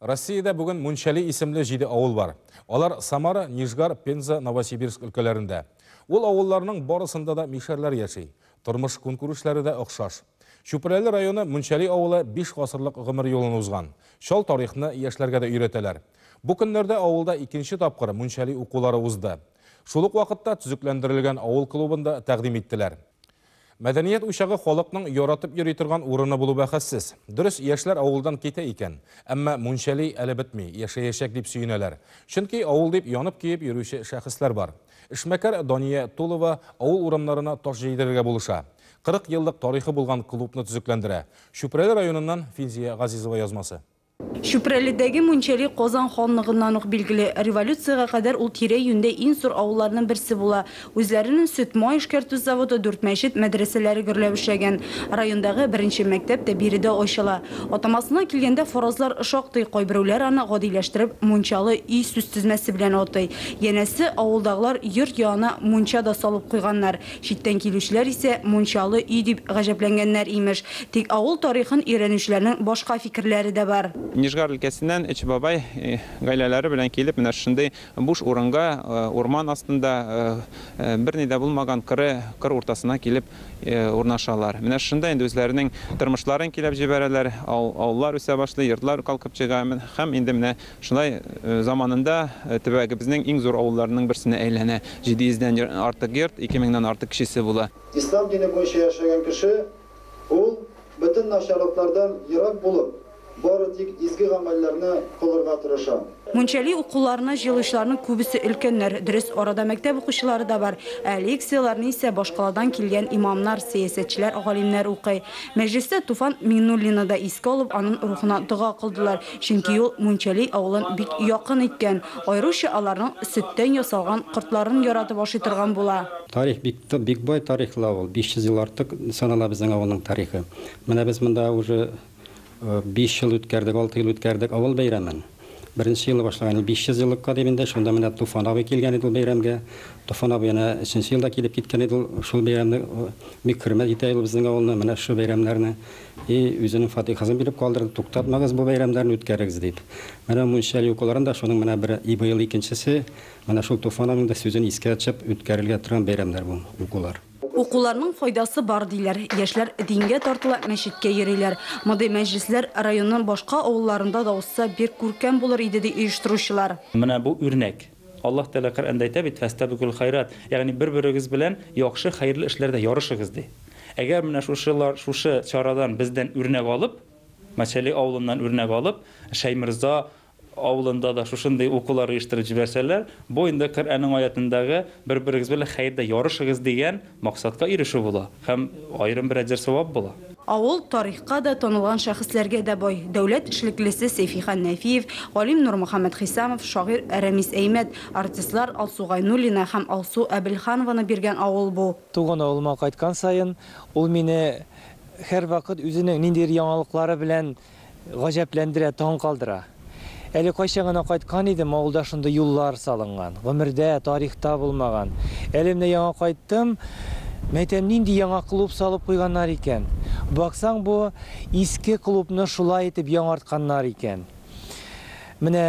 Россиядә бүген Мунчали исемле җиде авыл бар. Алар Самара, Нижгар, Пенза, Новосибирск өлкәләрендә. Ул авылларның барысында да мишәрләр яши. Тормыш көнкүрешләре дә охшаш. Чүпрәле районы Мунчали авылы 5 гасырлык гомер юлын узган. Чал тарихны яшьләргә дә өйрәтәләр. Бу көннәрдә авылда икенче тапкыр Мунчали укулары узды. Шул ук вакытта төзекләндерелгән авыл клубында тәкъдим иттеләр. Мәдәният учагы халыкның яратып йөри торган урыны булу бәхәссез. Дөрес, яшьләр авылдан китә икән. Әмма мунчали әле бетми, яшәячәк дип сөенәләр. Чөнки авыл дип янып-көеп йөрүче шәхесләр бар. Эшмәкәр Дания Тулова авыл урамнарына таш җәйдерергә булыша. 40 еллык тарихы булган клубны төзекләндерә. Чүпрәле районыннан Филзия Газизова язмасы. Чүпрәледәге Мунчәли Казан ханлыгыннан ук билгеле. Революциягә кадәр ул тирә-юньдә иң зур авылларның берсе була. Үзләренең сөт-май эшкәртү заводы, дүрт мәчет, мәдрәсәләре гөрләп эшләгән. Райондагы беренче мәктәп тә биредә ачыла. Атамасына килгәндә, фаразлар шактый, кайберүләр аны, гадиләштереп, Мунчалы өй сүзтезмәсе белән атый. Янәсе, авылдагылар йорт янына мунча да салып куйганнар. Читтән килүчеләр исә мунчалы өй дип гаҗәпләнгәннәр, имеш. Тик авыл тарихын өйрәнүчеләрнең башка фикерләре дә бар. Нижгар өлкәсеннән өч бабай гаиләләре белән килеп, менә шушындый буш урынга, урман астында, берни дә булмаган коры кыр уртасына килеп урнашалар. Менә шушында инде үзләренең тормышларын көйләп җибәрәләр, авыллар үсә башлый, йортлар калкып чыга һәм инде менә Шулай заманында төбәгебезнең иң зур авылларының берсенә әйләнә. 700 дән артык йорт, 2000 нан артык кешесе була. Ислам дине буенча яшәгән кеше, ул, бөтен начарлыклардан ерак булып, бары тик изге гамәлләрне кылырга тырыша. Мунчали укуларына җыелучыларның күбесе өлкәннәр. Дөрес, арада мәктәп укучылары да бар. Ә лекцияләрне исә башкаладан килгән имамнар, сәясәтчеләр, галимнәр укый. Мәҗлестә Туфан Миңнуллинны да искә алып, аның рухына дога кылдылар. Чөнки ул Мунчәли авылын бик якын иткән, аеруча аларның сөттән ясалган кортларын яратып ашый торган була. Тарих бик тып, бик бай тарихлы авыл. 500 ел артык санала безнең авылның тарихы. Менә без монда уже биш ел үткәрдек, алты ел үткәрдек авыл бәйрәмен. Беренче елы башлаган идек, 500 еллыкка дип инде, шунда менә Туфан абый килгән иде ул бәйрәмгә. Туфан абый әнә өченче елда килеп киткән иде ул шул бәйрәмне, бик хөрмәт итә иде ул безнең авылны, менә шушы бәйрәмнәрне. И үзенең фатихасын биреп калдырды, туктатмагыз бу бәйрәмнәрне үткәрегез дип. Менә мунча юкаларын да шуның менә бер и быел икенчесе, менә шул Туфан абыйның да сүзен искә тчып үткәрелгә торган бәйрәмнәр бу укулар. Укуларның файдасы бар диләр, яшьләр дингә тартыла, мәчеткә йөриләр. Мондый мәҗлесләр районның башка авылларында да узса бик күркәм булыр иде ди оештыручылар. Менә бу үрнәк. Аллаһ Тәгалә Коръәндә әйтә бит, Фәстәбикүл хайрат, ягъни бер-берегез белән яхшы, хәерле эшләрдә ярышыгыз, ди. Әгәр менә шушылар, шушы чарадан бездән үрнәк алып, Мәчәли авылыннан үрнәк алып, Шәйморза авылында да шушындый укулар оештырып җибәрсәләр, бу инде Коръәнең аятендәге бер-берегез белән хәердә ярышыгыз дигән Максатка ирешү була һәм аерым бер әҗер савап була. Авыл тарихка да, танылган шәхесләргә дә бай. Дәүләт эшлеклесе Сәйфихан Нәфиев, галим Нурмөхәммәт Хисамов, шагыйрь Рәмис Әймәт, артистлар Алсу Гайнуллина һәм Алсу Әбелханованы биргән авыл бу. Туган авылыма кайткан саен, ул мине һәрвакыт үзенең ниндидер яңалыклары белән Гаҗәпләндерә, таң калдыра. Әле кайчан гына кайткан идем, авылда шундый юллар салынган, гомердә, тарихта булмаган. Әле менә яңа кайттым, мәйтәм, нинди яңа клуб салып куйганнар икән. Баксаң, бу иске клубны шулай итеп яңартканнар икән. Менә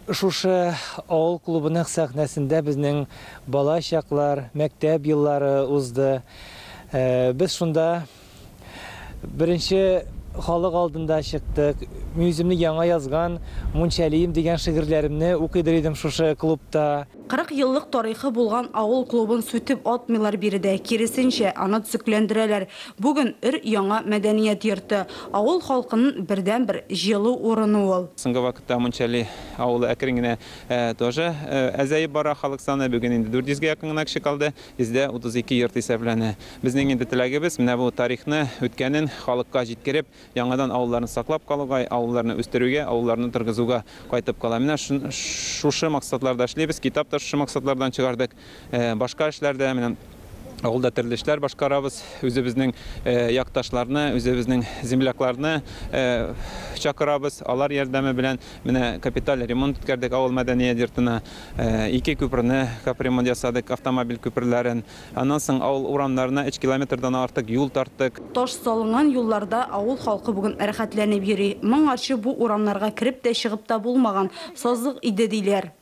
шушы авыл клубының сәхнәсендә безнең бала чаклар, мәктәп еллары узды. Без шунда Беренче халык алдында чыктык. Мин үземне яңа язган Мунчалием дигән шигырьләремне укыйдыр идем шушы клубта. 40 еллык тарихы булган авыл клубын сүтеп атмыйлар биредә, киресенчә, аны төзекләндерәләр. Бүген өр-яңа мәдәният йорты, авыл халкынын бердәнбер җылы урыны ул. Соңгы вакытта Мунчали авылы әкрен генә тоже әзәеп бара, халык саны бүген инде 400 гә якын гына кеше калды. Бездә 32 йорт исәпләнә. Безнең инде теләгебез, менә бу тарихны, үткәнен халыкка җиткереп, яңадан авылларны саклап калуга, авылларны үстерүгә, авылларны торгызуга кайтып кала. Менә шушы максатларда эшлибез. Китап та шушы максатлардан чыгардык. Башка эшләр дә, менә авылда төрле эшләр башкарабыз. Үзебезнең якташларны, үзебезнең землякларны чакырабыз. Алар ярдәме белән Менә капиталь ремонт үткәрдек авыл мәдәният йортына. Ике күперне капремонт ясадык, автомобиль күперләрен. Аннан соң авыл урамнарына өч километрдан артык юл тарттык. Таш салынган юлларда авыл халкы бүген рәхәтләнеп йөри. Моңарчы бу урамнарга кереп тә, чыгып та булмаган, сазлык иде, диләр.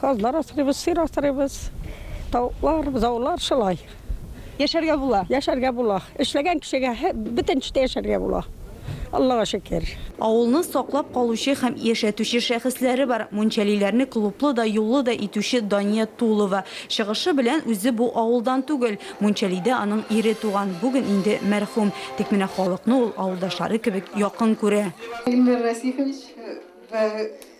Казлар асрыйбыз, сыер асрыйбыз, тавыклар, бозаулар шулай. Яшәргә була. Яшәргә була. Эшләгән кешегә бөтен эштә яшәргә була. Аллага шөкер. Авылны саклап калучы һәм яшәтүче шәхесләре бар. Мунчалиләрне клублы да, юллы да итүче Дания Тулова. Чыгышы белән үзе бу авылдан түгел. Мунчалидә аның ире туган, бүген инде мәрхүм. Тик менә халыкны ул авылдашлары кебек якын күрә. Илмир Расихович, бер